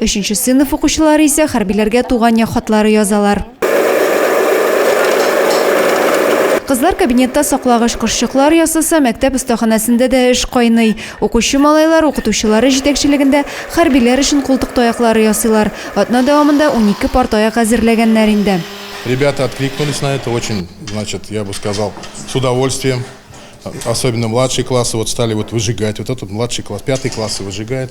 Өченче сыйныф укучылары исә хәрбиләргә туган як хатлары язалар. Кызлар кабинетта саклагыч кошчыклар ясаса, мәктәп остаханәсендә дә эш кайный. Укучы малайлар укытучылары җитәкчелегендә хәрбиләр өчен култык таяклары ясыйлар. Атна дәвамында унике пар таяк әзерләгәннәр инде. Ребята откликнулись на это очень, значит, я бы сказал, с удовольствием. Особенно младшие классы вот стали вот выжигать. Вот этот младший класс, пятый классы выжигает.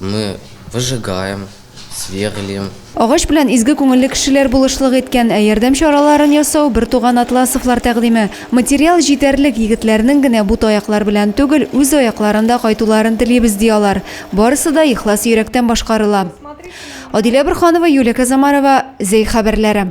Мы выжигаем, сверлим. Агач белән изге күңелле кешеләр булышлык иткән, ә ярдәм чараларын ясау, бертуган Атласовлар тәкъдиме. Материал җитәрлек, егетләрнең генә бу таяклар белән түгел, үз аякларында кайтуларын телибез, ди алар. Барысы да ихлас йөрәктән башкарыла. Адилә Борһанова, Юлия Казамарова, Зәй хәбәрләре.